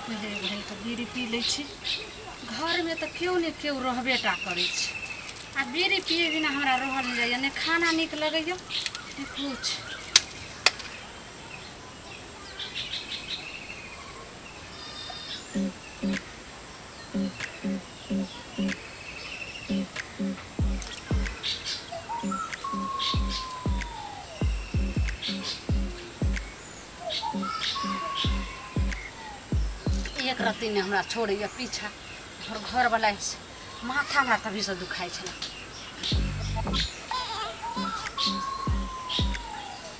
पहिले घड़ीके बीड़ी पी लै छी घरमे तऽ केओ ने केओ रहबे टा करै छै आ बीड़ी पिए बिना हमरा रहल नहि जाइए ने खाना नीक लगैए ने किछु एक रत्ती ने हमरा छोड़ैए पीछा हमर घरवला से माथा हमरा तभीसँ दुखाइ छलै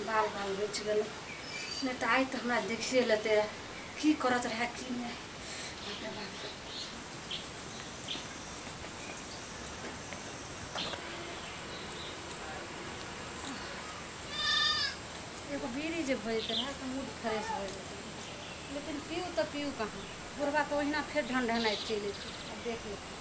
बाल बाल बचि गेलै नहि तऽ आइ तऽ हमरा देखिए लेतै रहए की करत रहए की नहि एगो बीड़ी जे भऽ जेतै रहए तऽ मूड फ्रेश भऽ जेतै लेकिन पीऊ तऽ पीऊ कहाँ बुढ़बा तऽ ओहिना फेर ढनढनाइत चलि अयतै देख लेतै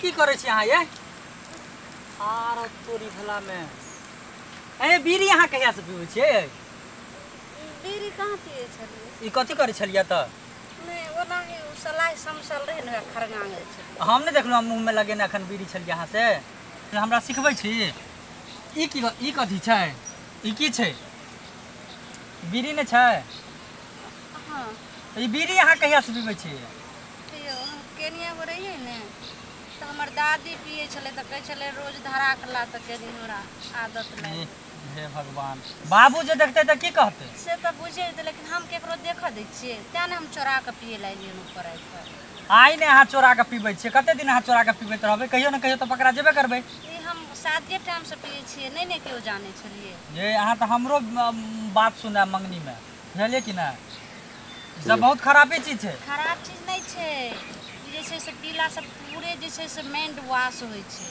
की करे छी अहाँ ये आरो तोरी भला में ए बीड़ी अहाँ कहिया से पीबै छियै बीड़ी कहाँ पिए छलियै ई कथी करे छलियै तऽ नहि ओनाही ओ सलाइ समसल रहै ने खरगांग जे छै हम नहि देखलहुँ हम मुँहमे लगेने एखन बीड़ी छलियै अहाँ से हमरा सिखबै छी ई की ई कथी छै ई की छै बीड़ी नहि छै हँ ई बीड़ी अहाँ कहियासँ पीबै छी यौ हम केनिया गो रहियै ने तऽ हमर दादी पियै छलै तऽ कहै छलै रोज धरा कला तऽ कनी हमरा आदत लागि गेल। हे भगवान बाबू जे देखते तऽ की कहते से तऽ बुझे जेतै लेकिन हम केकरो देखऽ दै छियै तें ने हम चोरा कऽ पिए लए एलियै ऊपर आबि कऽ आइ ने अहाँ चोरा कऽ पीबै छियै कते दिन अहाँ चोरा कऽ पीबैत रहबै कहियो ने कहियो तऽ पकड़ा जेबे करबै ई हम शादिये टाइम से पिए छियै नहि ने केओ जानै छलियै ये अहाँ तऽ हमरो अम, बात सुनाय मंगनीमे बुझलियै कि नहि ई सब बहुत खराबे चीज छै खराब चीज नहि छै ई जे छै से पीला से पूरे जे छै से माइंड वाश होइ छै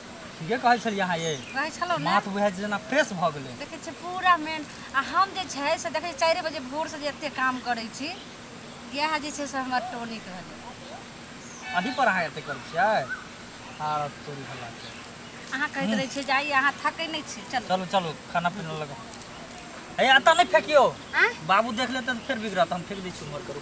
ठीके कहै छलियै अहाँ ये कहै छलहुँ ने माथ बुझाइ छै जेना फ्रेश भऽ गेलै देखै छियै पूरा मेन आ हम जे छै से देखै छियै चारि बजे भोरसँ जे एतेक काम करै छी इएह जे छै से हमर टोनिक भेलै अही पर अहाँ एते करै छियै आर तोरी भला के अहाँ कहैत रहै छियै जे आइ अहाँ थकै नहि छी चलू चलू चलू खाना पीना लगा हे एतऽ नहि फेकियो आँय बाबू देख लेतै तऽ फेर बिगड़त हम फेक दै छी उम्हर करू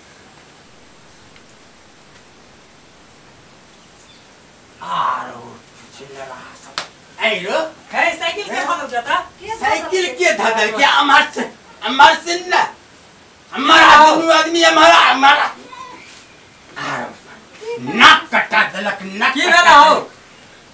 साइकिल के धदल के अमर से अमर सिंह ना हमारा आदमी आदमी हमारा हमारा नाक कटा दलक नाक की भेला हो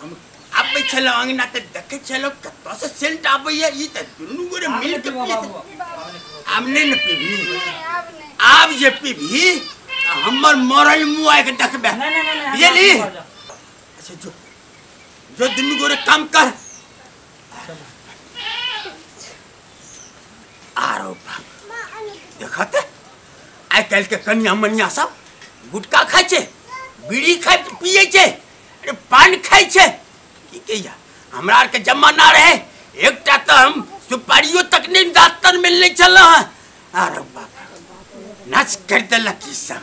हम आबै छलौ अंगना त देखै छलौ कतौ से सेंट आबैया ई त दुनू गोरे मिल के पियत आब नै न पीबी आब जे पीबी त हमर मरल मुआ के देखबे नहीं नहीं नहीं बुझली अच्छा जो जो दुनू गोरे काम कर आरो बाप देखत आइ काल्हि के कनिया मनिया सब गुटखा खाइ छै बीड़ी खाइ पियै छै अरे पान खाइ छै की कहिया हमरा आरके जमाना रहे एकटा तऽ हम सुपारियो तक नहि दाँतन मिलने छलहुँ हँ अरे बाप रे, नाच करि देलक ई सब